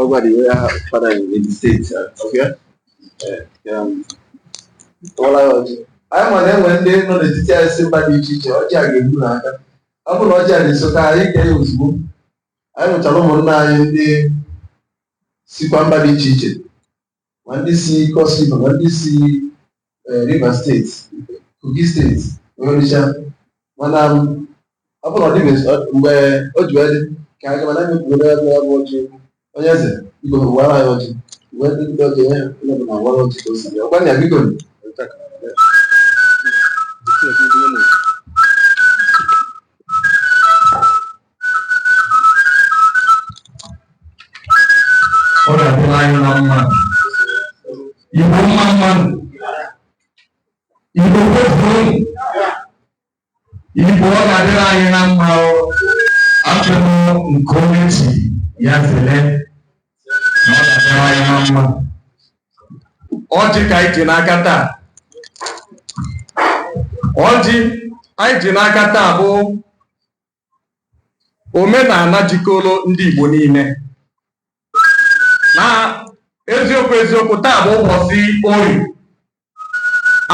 Ọgwa dị wee aha father in the state. Okay? Eh, um, Ọla ya ọjị. Anyị ma na-enwe ndị nọ n'etiti anyị si mba dị iche iche ọjị a ga-egbu na aka. Ọ bụrụ na ọjị a na-esote anyị kee ya ozugbo. Anyị nwechara ụmụnna anyị ndị sikwa mba dị iche iche ma ndị si Cross River ma ndị si eh, Rivers State Kogi State Onitsha mana m, ọ bụrụ na ọ dịghị ọ- mgbe o ji wee dị ka aga mana anyị kwuru ya bụ abụ ọjị onye eze biko wara anyị ọjị mgbe ndị ndị ọjị onye onye bụ na wara ọjị ka o si bịa ọgbanya biko ọ ga-adịrị anyị na mma Igbo mma mma nụ Igbo kwefuru Igbo ọ ga-adịrị anyị na mma achọrọ nke onye chi ya zele na ọ ga-adịrị anyị na mma ọjị ka anyị ji n'aka taa ọjị anyị ji n'aka taa bụ omenala jikọrọ ndị Igbo niile na eziokwu eziokwu taa bụ ụbọchị Orie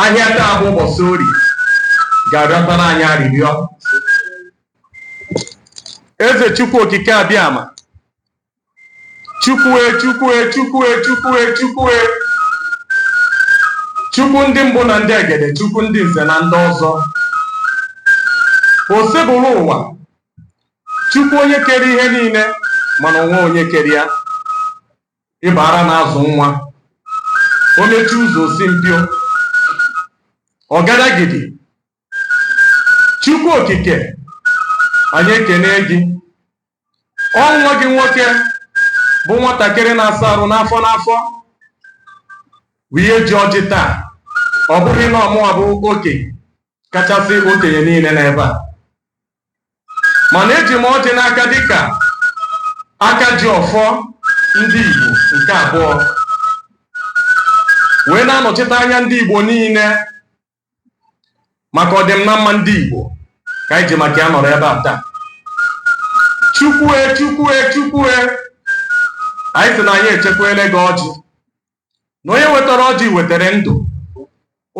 ahịa taa bụ ụbọchị Orie ga-arịọtara anyị arịrịọ eze chukwu okike abịama chukwue chukwue chukwue chukwue chukwue chukwu ndị mbụ na ndị egede chukwu ndị nze na ndị ọzọ Osebụrụwa chukwu onye kere ihe niile mana o nweghị onye kere ya ị bụ ara na-azụ nwa o mechie ụzọ o si mpio ọgadagidi Chukwu Okike anyị ekene gị ọ nwa gị nwoke bụ nwatakịrị na-asa arụ n'afọ n'afọ bụ ihe ji ọjị taa ọ bụghị na ọ mụwa bụ oke kachasị okenye niile n'ebe a mana eji m ọjị n'aka dịka aka ji ọfọ ndị Igbo nke abụọ wee na-anọchite anya ndị Igbo niile maka ọdịm na mma ndị Igbo ka anyị ji maka ya nọrọ ebe a taa chukwue chukwue chukwue anyị sị na anyị echekwele gị ọjị na onye wetara ọjị wetara ndụ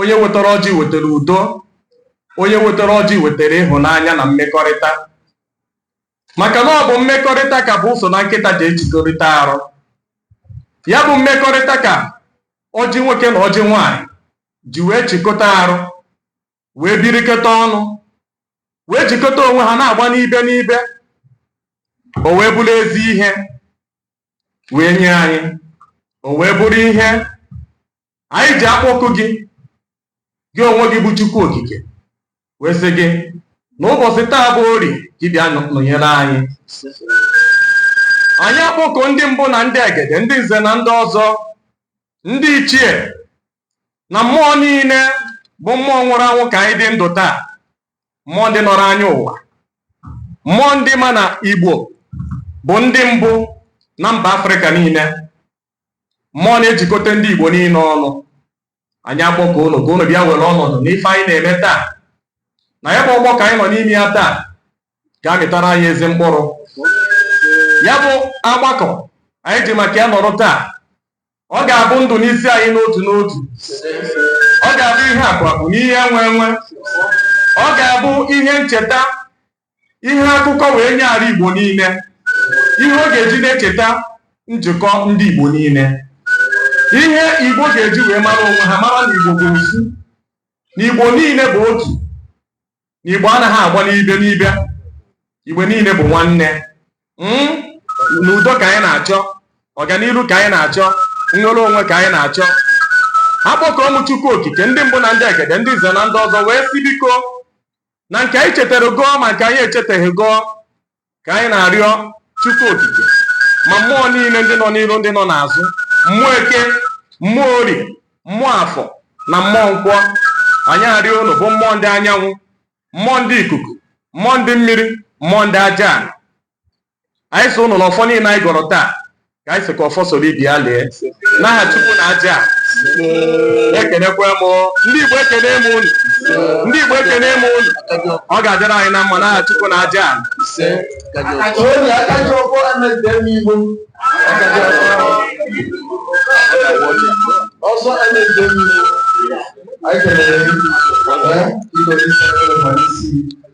onye wetara ọjị wetara udo onye wetara ọjị wetara ịhụnanya na mmekọrịta maka na ọ bụ mmekọrịta ka bụ ụsọ na nkịta ji echikọrịta arụ ya bụ mmekọrịta ka ọjị nwoke na ọjị nwaanyị ji wee chịkọta arụ wee birikọta ọnụ wee jikọta onwe ha na-agba n'ibe n'ibe o wee bụrụ ezi ihe wee nye anyị o wee bụrụ ihe anyị ji akpọku gị gị onwe gị bụ Chukwu Okike wee sị gị na ụbọchị taa bụ orie gị bịa nọnyere anyị anyị akpọkuo ndị mbụ na ndị egede ndị nze na ndị ọzọ ndị ichie na mmụọ niile bụ mmụọ nwụrụ anwụ ka anyị dị ndụ taa mmụọ ndị nọrọ anyị ụwa mmụọ ndị ma na igbo bụ ndị mbụ na mba afrịka niile mmụọ na-ejikọta ndị igbo niile ọnụ anyị akpọkuo unu ka unu bịa were ọnọdụ n'ife anyị na-eme taa na ya bụ ọgbakọ anyị nọ n'ime ya taa ga-amịtara anyị ezi mkpụrụ ya bụ ọgbakọ anyị ji maka ya nọrọ taa ọ ga-abụ ndụ n'isi anyị n'otu n'otu ọ ga-abụ ihe akụ akụ na ihe enwe enwe ọ ga-abụ ihe ncheta ihe akụkọ wee nye ala Igbo niile ihe ọ ga-eji na-echeta njikọ ndị Igbo niile ihe Igbo ga-eji wee mara onwe ha mara na Igbo bụ ofu na Igbo niile bụ otu na Igbo anaghị agba n'ibe n'ibe Igbo niile bụ nwanne hmm? na udo ka anyị na-achọ ọganiru ka anyị na-achọ nnwere onwe ka anyị na-achọ akpọkuo m Chukwu Okike ndị mbụ na ndị egede ndị nze na ndị ọzọ wee sị biko na nke anyị chetara gọọ ma nke anyị echetaghị gọọ ka anyị na-arịọ Chukwu Okike ma mmụọ niile ndị nọ n'iru ndị nọ n'azụ mmụọ eke mmụọ orie mmụọ afọ na mmụọ nkwọ anyị arịọ unu bụ mmụọ ndị anyanwụ mmụọ ndị ikuku mmụọ ndị mmiri mmụọ ndị aja anyị sị unu na ọfọ niile anyị gọrọ taa ka anyị sị ka ọfọ soro ibe ya lee n'aha chukwu na aja ana ekenekwa m ndị igbo ekene m unu ndị igbo ekene m unu ọ ga-adịrị anyị na mma n'aha chukwu na aja ana Onye aka ji ọfọ emegide m igbo. Ọsọ emegide m igbo. Anyị kelere gị. Ee, ikoro isi ekele ma n'isi.